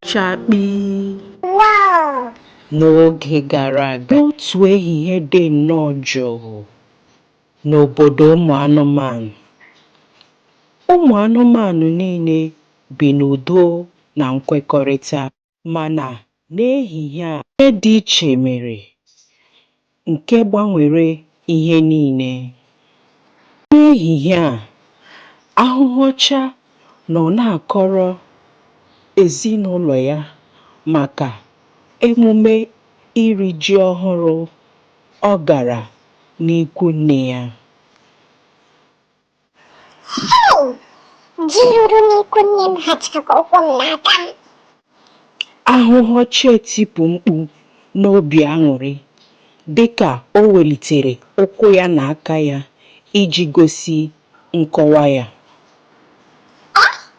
chakpii. N'oge gara aga, otu ehihie dị nnọọ jụụ n'obodo ụmụ anụmanụ. Ụmụ anụmanụ niile bi n'udo na nkwekọrịta. Mana, n'ehihie a, ihe dị iche mere. nke gbanwere ihe niile. N'ehihie a, ahụhụ ọcha nọ na-akọrọ ezinaụlọ ya maka emume iri ji ọhụrụ ọ gara n'ikwunne ya. Hau! Ji ruru n'ikwu nne m hacha ka ụkwụ m na aka m. Ahụhụ ọcha etipu mkpu n'obi aṅụrị dịka o welitere ụkwụ ya na aka ya iji gosi nkọwa ya. Ọ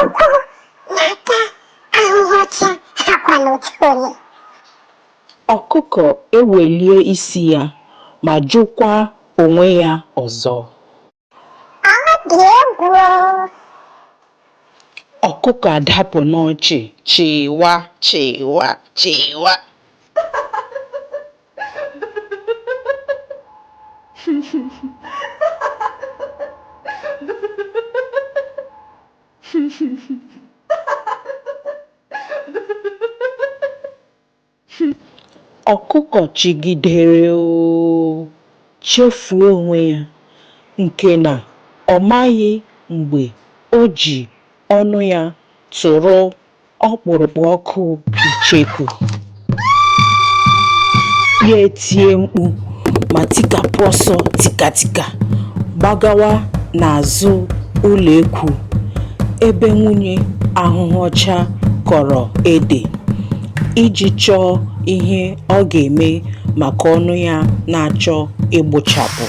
Ụkwụ na aka ahụhụ ọcha hakwanụ otu ole. Ọkụkọ ewelie isi ya ma jụkwa onwe ya ọzọ. Ọ dị egwu o! Ọkụkọ adapụ n'ọchị chịwa chịwa chịwa. Ọkụkọ chịgidere oo chefuo onwe ya nke na ọ maghị mgbe o ji ọnụ ya tụrụ ọkpụrụkpụ ọkụ icheku ya etie mkpu ma tikapụ ọsọ tikatika gbagawa n'azụ ụlọ ekwu ebe nwunye ahụhụ ọcha kọrọ ede iji chọọ ihe ọ ga-eme maka ọnụ ya na-achọ ịgbụchapụ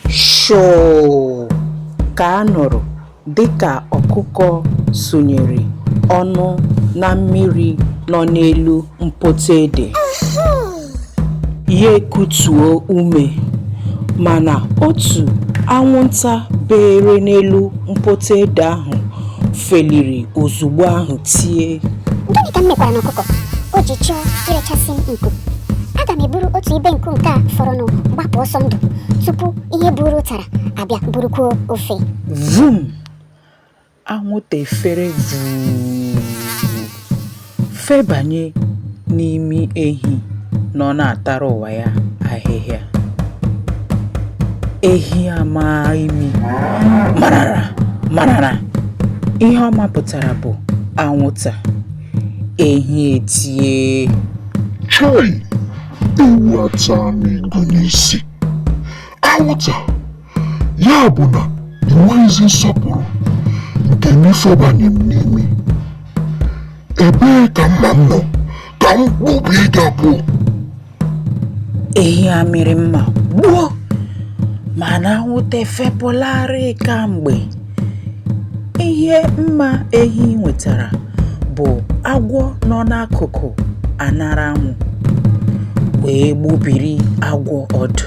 shoo ka a nụrụ Dịka ọkụkọ sunyere ọnụ na mmiri nọ n'elu mpoto ede, ya ekutuo ume. Mana otu anwụnta beere n'elu mpoto ede ahụ feliri ozugbo ahụ tie. Gịnị ka m mekwaranụ ọkụkọ o ji chọọ irechasị m nku? Aga m eburu otu ibe nku nke a fọrọnụ gbapụ ọsọ ndụ tupu ihe buuru ụtara abịa burukwuo ofe. vum anwụta efere vuu febanye n'imi ehi nọ na-atara ụwa ya ahịhịa ehi ama imi marara ihe ọ mapụtara bụ anwụta ehi etie chai ewu ata m igu n'isi anwụta ya bụ na enweghịzi nsọpụrụ nke n'ifebanye m n'imi ebee ka mma m nọ ka m kpụbie gị abụọ ehi amịrị mma gbuo mana anwụta efepụlarị kamgbe ihe mma ehi nwetara bụ agwọ nọ n'akụkụ aṅara anwụ wee gbubiri agwọ ọdụ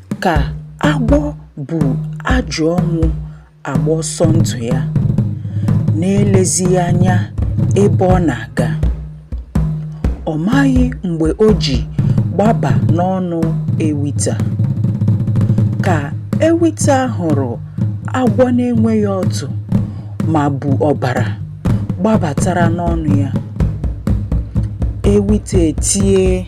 Ka agwọ bu ajụ ọnwụ agba ọsọ ndụ ya, na-elezighị anya ebe ọ na-aga. Ọ maghị mgbe o ji gbaba n'ọnụ ewita. Ka ewita hụrụ agwọ na-enweghị ọdụ ma bu ọbara gbabatara n'ọnụ ya, ewita etie.